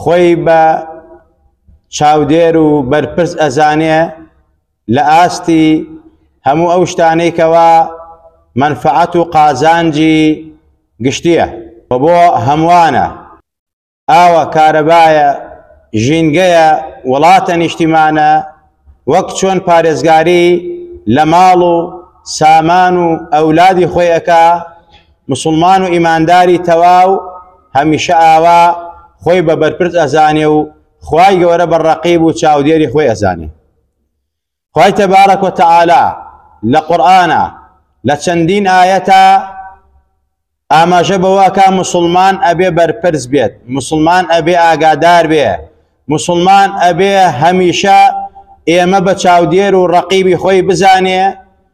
خۆی بە چاودێر و بەرپرس ئەزانێ لە ئاستی هەموو ئەو شتانەی کەوا مەنفەعەت و قازانجی گشتییە و بۆ هەمووانە، ئاوە، کارەبایە، ژینگەیە، وڵاتە، نیشتیمانە، وەک چۆن پارێزگاری لە ماڵ و سامان و ئەولادی خۆی ئەکا، موسڵمان و ئیمانداری تەواو هەمیشە ئاوا خۆی بە بەرپرس ئەزانێ و خوای گەورە بە ڕەقیب و چاودێری خۆی ئەزانێ خوای تەبارەک و تەعالا لە قورئانە لە چەندین ئاەتە ئاماژە بەوەکە مسلمان ئەبێ بەرپرس بێت مسلمان ئەبێ ئاگادار بێ مسلمان ئەبێ هەمیشە ئێمە بە چاودێر و ڕقیبی خۆی بزانێ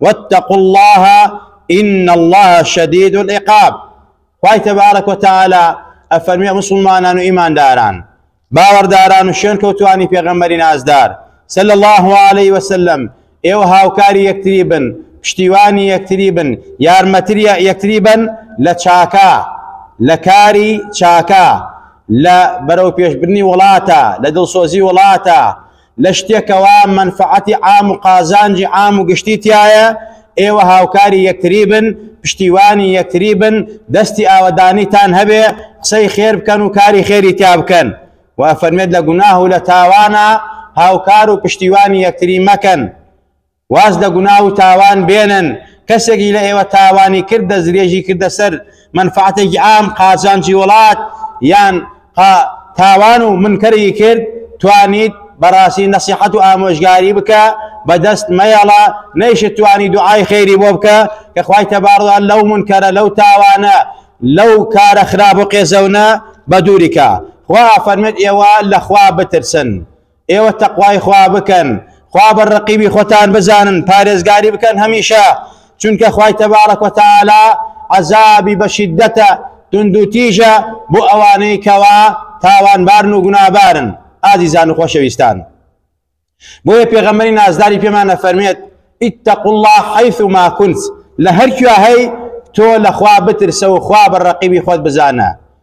واتقوا اللە ان اللە شدید العقاب خوای تبارک و تعالی ئەفەرمی مسلمانان و ئیمانداران باوەڕداران و شوێن کەوتوانی پێغەمبەری نازدار صلی الله علیه وسلم ئێوە هاوکاری یەکتری بن پشتیوانی یەکتری بن یارمەتری یەکتری بن لە چاکە لە کاری چاکە لە بەرەو پێشبرنی وڵاتە لە دڵسۆزی وڵاتە لە شتێک کەوا مەنفەعەتی عام و قازانجی عام و گشتی تیایە، ئێوە هاوکاری یەکتری بن، پشتیوانی یەکتری بن، دەستی ئاوەدانیتان هەبێ، قسەی خێر بکەن و کاری خێری تیا بکەن. وە ئەفەرمێت لە گوناه و لە تاوانا هاوکار و پشتیوانی یەکتری مەکەن. واز لە گوناه و تاوان بێنن، کەسێکی لە ئێوە تاوانی کرد دەستدرێژی کردە سەر مەنفەعەتێکی عام، قازانجی وڵات، یان قا تاوان و منکەری کرد، توانیت بەڕاستی نەسیحەت و ئامۆژگاری بکە، بە دەست مەیەڵە، نەیشت توانی دوعای خێری بۆ بکە، کە خوای تبارک وتعالی لەو منکەرە، لەو تاوانە، لەو کارە خراپ و قێزەونە بەدووری کا. خوا ئەفەرموێت ئێوە لە خوا بترسن، ئێوە تەقوای خوا بکەن، خوا بە ڕەقیبی خۆتان بزانن، پارێزگاری بکەن هەمیشە، چونکە خوای تەبارەک و تەعالا عەزابی بە شیددەتە، توندوتیژە بۆ ئەوانەی کەوا تاوانبارن و گوناهبارن. ئازیزان و خۆشەویستان، بۆیە پێغەمبەری نازداری پێمان ئەفەرمێت، اتقوا الله حیثما کنت، لە هەر کوێ هەی تۆ لە خوا بترسە و خوا بە ڕەقیبی خۆت بزانە.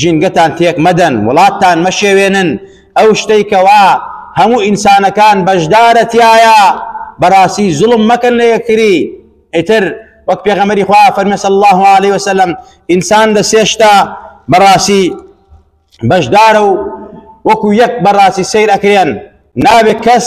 ژینگەتان تێک مەدەن، وڵاتتان مەشێوێنن، ئەو شتەی کەوا هەموو ئینسانەکان بەشدارە تیایا، بەڕاستی زوڵم مەکەن لە یەکتری، ئیتر وەک پێغەمبەری خوا فەرمێ صلی الله علیه وسلم ئینسان لە سێ شتە بەڕاستی بەشدارە و وەکو یەک بەڕاستی سیر ئەکرێن نابێت کەس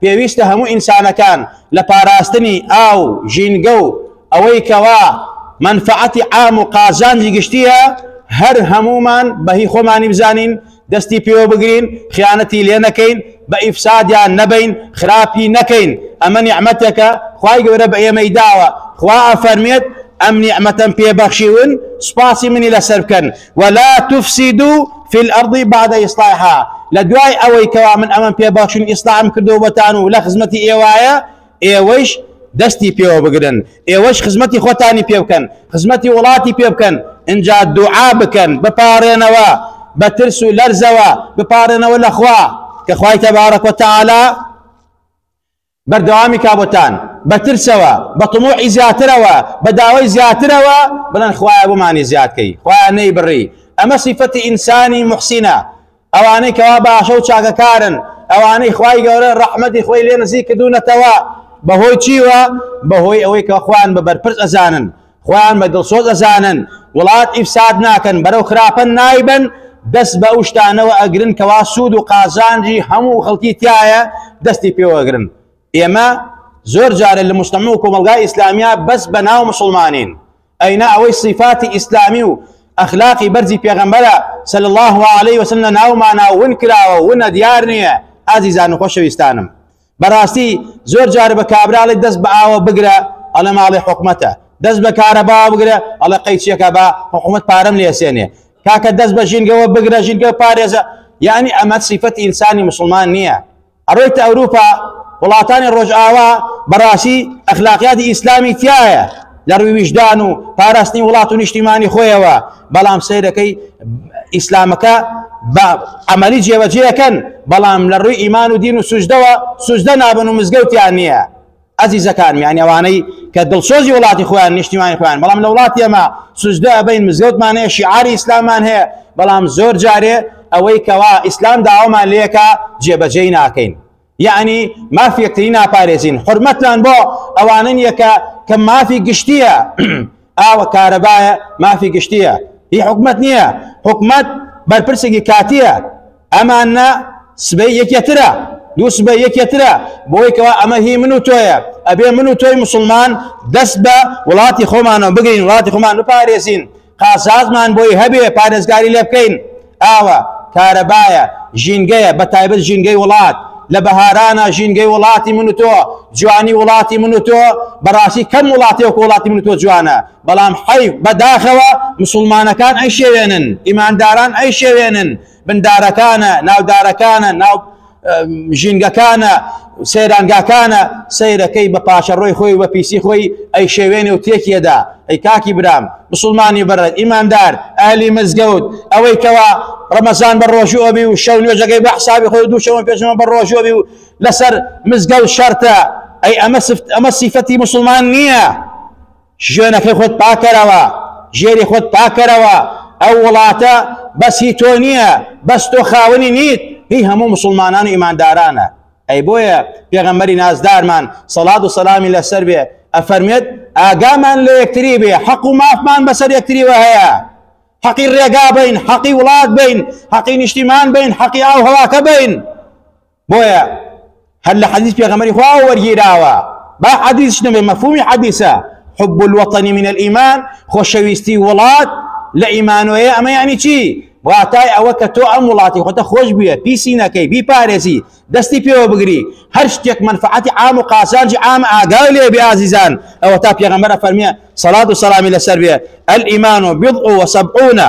پێویستە هەموو ئینسانەکان لە پاراستنی ئاو، ژینگە و ئەوەی کەوا مەنفەعەتی عام و قازانجی گشتییە، هەر هەموومان بە هی خۆمانی بزانین، دەستی پێوە بگرین، خیانەتی لێ نەکەین، بە ئیفسادیان نەبین، خراپی نەکەین، ئەمە نیعمەتێکە خوای گەورە بە ئێمەی داوە، خوا ئەفەرموێت، ئەم نیعمەتەم پێ بەخشیون سوپاسی منی لەسەر بکەن. ولا تفسدو فی الارض بعد اصلاحها لدوای ئەوەی کەوا من ئەمەم پێ بەخشن ئیسلام کردو بەتان و لە خزمەتی ئێوایە ئێوەیش دەستی پێوە بگرن ئێوەش خزمەتی خۆتانی پێ بکەن خزمەتی وڵاتی پێ بکەن اینجا دوعا بکەن بپارێنەوە بە ترس و لەرزەوە بپارێنەوە لەخوا کە خوای تەبارەک وتەعالا بەردەوامی کا بۆتان بە ترسەوە بە طموحی زیاترەوە بە داوای زیاترەوە بڵێن خوایە بۆمانی زیاد کەی خوایە نەیبڕی ئەمە سیفەتی ئینسانی محسینە ئەوانەی کەوا باشە و چاکەکارن ئەوانەی خوای گەورە ڕەحمەتی خۆی لێ نزیک کردوونەتەوە بەهۆی چیوە بەهۆی ئەوەی کە خوان بە بەرپرس ئەزانن خۆیان بە دڵسۆز ئەزانن وڵات ئیفساد ناکەن بەرەو خراپە نایبەن دەست بە ئەو شتانەوە ئەگرن کەوا سوود و قازانجی هەموو خەڵکی تایە دەستی پێوەگرن ئێمە زۆر جارە لە مستەمە و کۆمەلگای ئیسلامیا بەس بە ناو مسلمانین ئەینا ئەوەی صفاتی ئیسلامی و ئەخلاقی بەرزی پێغەمبەرە سەل الله عليه وسلم لە ناومانە ون کراوە ونە دیار نییە ئازیزان و خۆشەویستانم بەراستی زۆر جار بە کابرا ئەڵێ دەست بە ئاوە بگرە ئەڵێ ماڵی حکومەتە دەست بە کارەبا بگرە ئەڵێ قەی چیەکە با حکومەت پارەم لێسێنێ کاکە دەست بە ژینگەوە بگرە ژینگە پارێزە یعنی ئەمە سیفەت ئینسانی مسلمان نییە ئەڕۆیت ئەوروپا وڵاتانی ڕۆژئاوا بەڕاستی ئەخلاقیاتی ئیسلامی تایە لە ڕووی ویژدان و پاراستنی وڵات و نیشتیمانی خۆیەوە بەڵام سیرەکەی ئیسلامەکە بە ئەمەلی جێوەجێەکەن بەڵام لە ڕووی ئیمان و دین و سوژدەوە سوژدە نابن و مزگەوتیان نییە ئازیزەکان میانەوانەی کە دڵسۆزی وڵاتی خۆیان نیشتیمانی خۆیان بەڵام لە وڵاتی ئەمە سوژدە بین مزگەوتمان هەیە شیعاری ئیسلامان هەیە بەڵام زۆر جارێ ئەوەی کەوا ئیسلام داوامان لەکە جێبەجێی ناکەین یەعنی مافی یەکتری ناپارێزین حرمەتتان بۆ ئەوانە نیە کە کە مافی گشتیە ئاوە کارەبایە مافی گشتیە هی حکومت نییە حکومت بەرپرسێکی کاتیە ئەمانە سبەی یەکێترە دوو سبە یەکێترە بۆی کەوا ئەمە هی من و تۆیە ئەبێ من و تۆی مسلمان دەست بە وڵاتی خۆمانەوە بگەین وڵاتی خۆمان بپارێزین قازانجمان بۆی هەبێ پارێزگاری لێ بکەین، ئاوە، کارەبایە، ژینگەیە، بەتایبەت ژینگەی وڵات، لە بەهارانە ژینگەی وڵاتی من و تۆ، جوانی وڵاتی من و تۆ، بەڕاستی کەم وڵاتێ وەکو وڵاتی من و تۆ جوانە، بەڵام حەیف، بەداخەوە موسڵمانەکان ئەیشێوێنن، ئیمانداران ئەیشێوێنن، بندارەکانە ناودارەکانە ناو ژینگەکانە سەیرانگاکانە سەیرەکەی بە پاشەڕۆی خۆی بە پیسی خۆی ئەی شێوێنێ و تێکیەدا ئەی کاکی برام مسلمانی بەرە ئیماندار ئالی مزگەوت ئەوەی کەوا ڕەمەزان بە ڕۆژوەبی و شەو نوێژەکەی بە حسابی خۆی دووشەوە پێشەوە بە ڕۆژوەبی و لەسەر مزگەوت شەرتە ئەی ئەمە سفت ئەمە سیفەتی مسلمان نییە شوێنەکەی خۆت پاکەرەوە ژێری خۆت پاکەرەوە ئەو وڵاتە بەس هی تۆ نییە بەس تۆ خاونی نیت هی هەموو مسلمانان و ئیماندارانە ئەی بۆیە پێغەمبەری نازدارمان سەڵات و سەلامی لەسەر بێ ئەفەرمێت ئاگامان لە یەکتری بێ حەق و مافمان بەسەر یەکتریوە هەیە حەقی ڕێگا بین حەقی وڵات بین حەقی نیشتیمان بین حەقی ئاو هەواکە بین بۆیە هەر لە حەدیث پێغەمبەری خوا وەرگیراوە با حەدیثش نەبێ مەفهومی حەدیثە حب الوطن من الإيمان خۆشەویستی وڵات لە ئیمانۆیە ئەمە یعنی چی واتای ئەوە کە تۆ ئەم وڵاتی خۆتە خۆش بووە پیسی نەکەی بیپارێزی دەستی پێوە بگری هەر شتێک منفعەتی عام و قازانجی عام ئاگا لێ بێ ئازیزان ئەوە تا پێغەمبەرە فەرمیە سەڵات و سەڵامی لەسەر بێ ئەل ئیمان و بضع و سەبعونە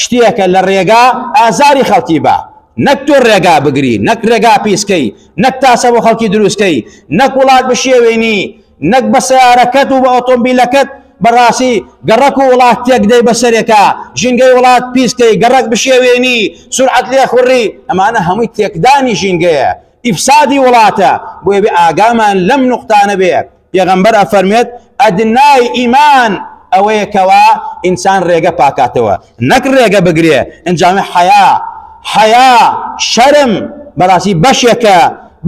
شتێکە لە ڕێگا ئازاری خەڵکی با نەک تۆ ڕێگا بگری نەک ڕێگا پیسکەی نەک تاسە بۆ خەڵکی دروستکەی نەک وڵات بشێوێنی نەک بە سیارەکەت و بە ئۆتۆمبیلەکەت بەڕاستی گەڕک و وڵات تێکدەی بەسەرێکە ژینگەی وڵات پیسکەی گەڕک بشێوێنی سرعەت لێ خوڕی ئەمانە هەمووی تێکدانی ژینگەیە ئیفسادی وڵاتە بۆێ بێ ئاگامان لەم نقطانە بێت پێغەمبەر ئەفەرموێت ئەدنای ئیمان ئەوەیە کەوا ئینسان ڕێگە پاکاتەوە نەک ڕێگە بگرێ ئەنجامە حەیا حەیا شەرم بەڕاستی بەشێکە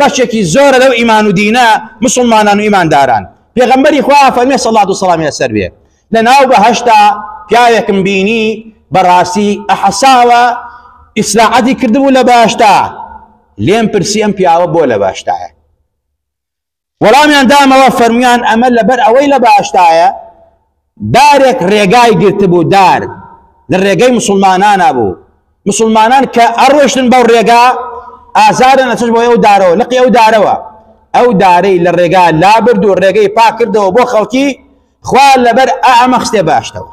بەشێکی زۆرە لەو ئیمان و دینە مسلمانان و ئیمانداران پێغەمبەری خوا فەرمێ سەڵات و سەڵامی لەسەر بێ لە ناو بەهشتا پیاوێکم بینی بەڕاستی ئەحەساوە ئیسراعەتی کردبوو لە باشتا لێم پرسی ئەم پیاوە بۆ لە باشتایە وەڵامیان دامەوە فەرمویان ئەمە لەبەر ئەوەی لە باشتایە دارێک ڕێگای گرتبوو دار لە ڕێگەی مسلمانانە بوو مسلمانان کە ئەڕۆشتن بەو ڕێگا ئازارن ئەچش بۆ ئەو دارەوە لەقی ئەو دارەوە ئەو دارەی لە ڕێگا لابرد و ڕێگەی پاکردەوە بۆ خەڵکی خوا لەبەر ئامەخستێ باشتەوە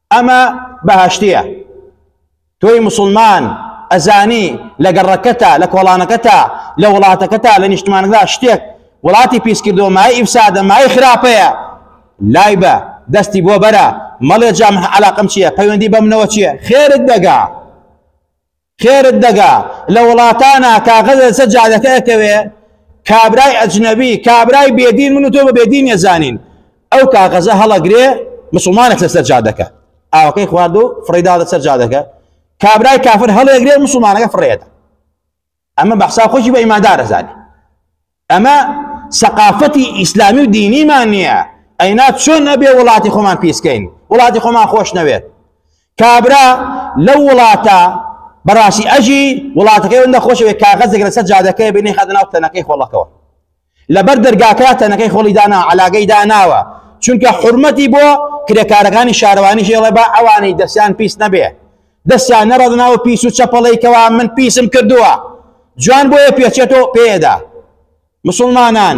ئەمە بەهەشتیە تۆی موسڵمان ئەزانی لە گەڕەکەتا لە کۆڵانەکەتا لە وڵاتەکەتا لە نیشتمانەکەدا شتێک وڵاتی پیسکردەوە مای ئیفسادە مای خراپەیە لای بە دەستی بۆ بەرە مەڵێ جام علاقم چییە پەیوەندی بەمنەوە چییە خێرت دەگا خێرت دەگا لە وڵاتانا کاغەزە لەسەر جادەکە ئەکەوێ کابرای ئەجنەبی کابرای بێدین من و تۆ بە بێدین ێزانین ئەو کاغەزە هەڵەگرێ مسلمانێک لەسەر جادەکە ئاوەکەی خوارد و فڕیدا لەسەر جادەکە کابرای کافر هەڵێگرێ مسلمانەکە فڕێدا ئەمە بەحسا خۆشی بە ئیمادارە زانانی ئەمە سەقافەتی ئیسلامی و دینیمان نییە ئەینا چۆن ئەبێ وڵاتی خۆمان پیسکەین وڵاتی خۆمان خۆش نەوێت کابرا لەو وڵاتە بەڕاستی ئەژی وڵاتەکەی وەندە خۆشەوێت کاغەزێک لەسەر جادەکەی بینی خەدە ناو تەنەکەی خۆڵەکەەوە لەبەر دەرگاکە تەنەکەی خۆڵی دانا علاگەی داناوە چونکە حرمەتی بۆ کرێکارەکانی شارەوانی ژێڵە بە ئەوانەی دەستیان پیس نەبێ دەستیان نەڕەدە ناو پیس و چەپەڵەی کەوا من پیسم کردووە جوان بۆیە پێچێتۆ پێدا مسلمانان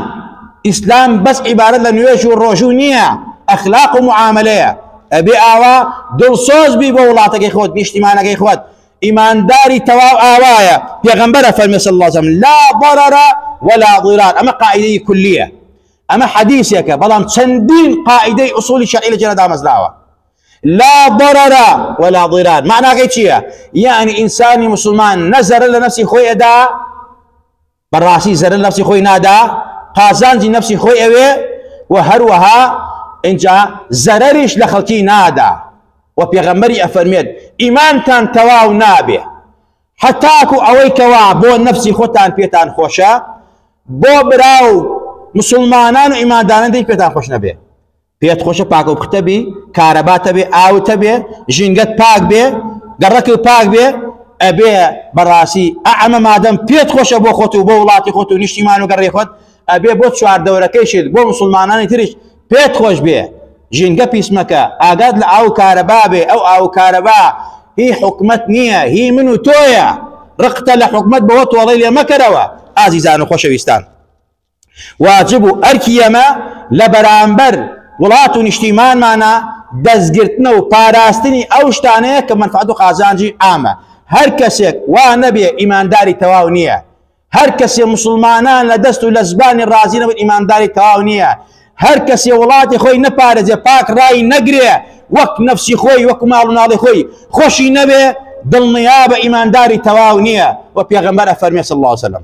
ئیسلام بەس عیبارەت لە نوێژ و ڕۆژوو نییە ئەخلاق و معاملەیە ئەبێ ئاوا دڵسۆز بی بۆ وڵاتەکەی خۆت نیشتیمانەکەی خۆت ئیمانداری تەواو ئاوایە پێغمبەرە فەرمی صلی الله عليه لا ضرر ولا ضرار ئەمە قاعدەی کولیە ئەمە حەدیثێکە بەڵام چەندین قاعدەی ئوسولی شەرعی لە جێدا دامەزراوە لا ضرر ولا ضرار معناکەی چییە یعنی ئینسانی مسلمان نە زەرە لە نفسی خۆی ئەدا بەڕاستی زەرە نفسی خۆی نادا قازانجی نفسی خۆی ئەوێ و هەروەها اینجا زەرەریش لە خەڵکی نادا و پێغەمبەری ئەفەرمێت ئیمانتان تەواو نابێ حتاکو ئەوەی کەوا بۆ نفسی خۆتان پێتان خۆشە بۆ برا و مسلمانان و ئیماندانەندەی پێتان خۆش نەبێ پێت خۆشە پاک و پختە بی کارەبات هەبێ ئاوت هەبێ ژینگەت پاک بێ گەڕەکت پاک بێ ئەبێ بەڕاستی ئەمە مادەم پێت خۆشە بۆ خۆت و بۆ وڵاتی خۆت و نیشتیمان و گەڕێ خۆت ئەبێ بۆ چواردەورەکەیشت بۆ مسلمانانی تریش پێت خۆش بێ ژینگە پیسمەکە ئاگات لە ئاو کارەبا بێ ئەو ئاو کارەبا هی حکومت نییە هی من و تۆیە ڕقتە لە حکومت بەوە تۆڵی لێ مەکەرەوە ئازیزان و خۆشەویستان واجب و ئەرکی ئێمە لە بەرامبەر وڵات و نیشتیمانمانە دەستگرتنە و پاراستنی ئەو شتانەیە کە مەنفعەت و قازانجی عامە هەر کەسێک وا نەبێ ئیمانداری تەواو نییە هەر کەسێ مسلمانان لە دەست و لە زبانی ڕازی نەبن ئیمانداری تەواو نییە هەر کەسێ وڵاتی خۆی نەپارێزێ پاک ڕای نەگرێ وەک نەفسی خۆی وەک ماڵ و ناڵی خۆی خۆشی نەبێ دڵنیا بە ئیمانداری تەواو نییە و پێغەمبەر ئەفەرمێ صلی الله عليه وسلم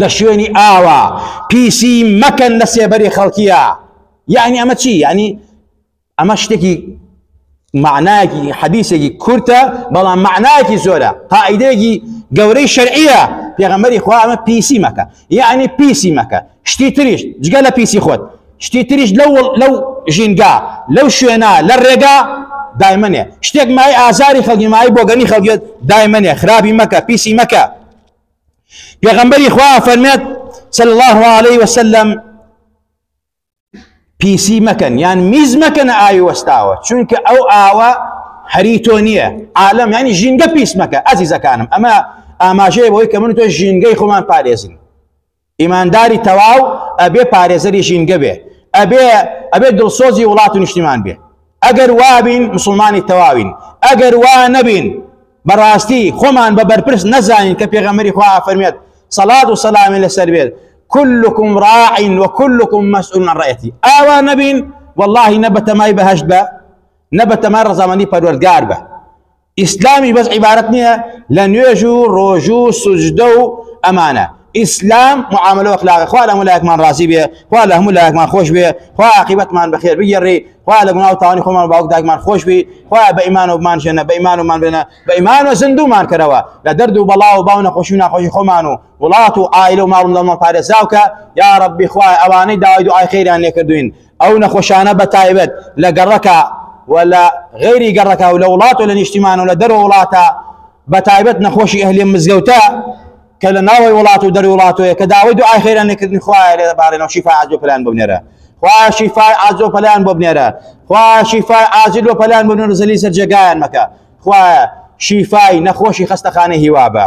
لە شوێنی ئاوا پیسی مەکەن لە سێبەری خەڵکیە یعنی ئەمە چی یعنی ئەمە شتێکی معناکی حەدیسێکی کورتە بەڵام معناکی زۆرە قائیدێکی گەورەی شەرعیە پێغەمەری خوا ئەمە پیسی مەکە یعنی پیسی مەکە شتی تریش جگە لە پیسی خۆت شتی تریش لەو لەو ژینگا لەو شوێنە لە ڕێگا دایمنێ شتێک مای ئازاری خەڵکی مای بۆگەنی خەڵکێت دایمنێ خراپی مەکە پیسی مەکە پێغەمبەری خوا فەرمێت صلی الله علیه وسلم پیسی مەکەن یان میز مەکەن ئاوی وەستاوە چونکە ئەو ئاوە هەری تۆ نییە عالم ینی ژینگە پیس مەکە ئازیزەکانم ئەمە ئاماژەیە بۆی کە من تۆ ژینگەی خۆمان پارێزین ئیمانداری تەواو ئەبێ پارێزەری ژینگە بێ، ئەبێ ئەبێ دڵسۆزی وڵات و نیشتیمان بێ. ئەگەر وابین موسڵمانی تەواوین، ئەگەر وا نەبین بەڕاستی خۆمان بە بەرپرس نەزانین کە پێغەمبەری خوا ئەفەرمێت سەڵات و سەلامی لەسەر بێت كلكم راع وكلكم مسؤول عن رعيته ئاوا نەبین واللهی نە بەتەمای بەهشت بە نە بەتەمای ڕزامەندی پەروەردگار بە ئیسلامی بەس عیبارەت نییە لە نوێژ و ڕۆژوو و سوجدە و ئەمانە ئیسلام معاملە وەخلاقە خوا لە هەموو لایەکمان ڕازی بێ خوا لە هەموو لایەکمان خۆش بێ خوا عقیبەتمان بەخێر بگەڕێ خوا لە گوناو تاوانی خۆمان باوک داگمان خۆش بی خوا بە ئیمان و بمان ژێنە بە ئیمان ومان بێنە بە ئیمان و زندومان کەرەوە لە دەرد و بەڵا و باو نەخۆشی و ناخۆشی خۆمان و وڵات و ئایل و ماڵ لەمان پارێزاوکە یا ڕبی خوای ئەوانەی داوای دوعای خێریان لێکردوین ئەو نەخۆشانە بە تایبەت لە گەڕەکە و لە غەیری گەڕەکە و لە وڵات و لە نیشتیمان و لە دەرو وڵاتە بە تایبەت نەخۆشی ئەهلی مزگەوتە کە لە ناوەی وڵات و دەروی وڵاتۆیە کە داوای دو ئاخێرە نکردنی خوایە لێ بارێنەوە شیفا عجو پلان ببنێرە خوا شیفای ئازۆ پەلیان بۆ بنێرە خوا شیفای ئازیل و پەلیان بنێرە زەلی سەر جێگایان مەکە خوایە شیفای نەخۆشی خەستەخانە هیوا بە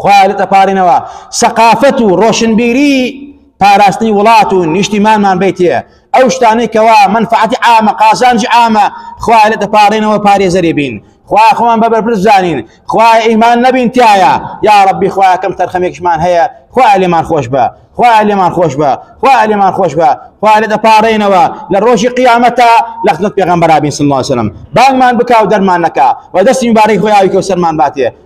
خوا لێت ئەپارێنەوە سەقافەت و ڕۆشنبیری پاراستنی وڵات و نیشتیمانمان بیتێ ئەو شتانەی کەوا منفعەتی عامە قازانجی عامە خوا لێت ئەپارێنەوە پارێزەری بین خوا خۆمان بە بەرپرس زانین خوا ئیمان نەبین تایە یا ڕبی خوا کەم تەرخەمێکشمان هەیە خوا لێمان خۆش بە خوا لێمان خۆش بە خوا لێمان خۆش بە خوا لێ دەپارڕێنەوە لە ڕۆژی قیامەتە لە خزمەت پێغەمبەرابین صلی الله عليه وسلم بانگمان بکا و دەرمان نەکا و دەستی مبارەی خۆی ئاوی کەوسەرمان باتێ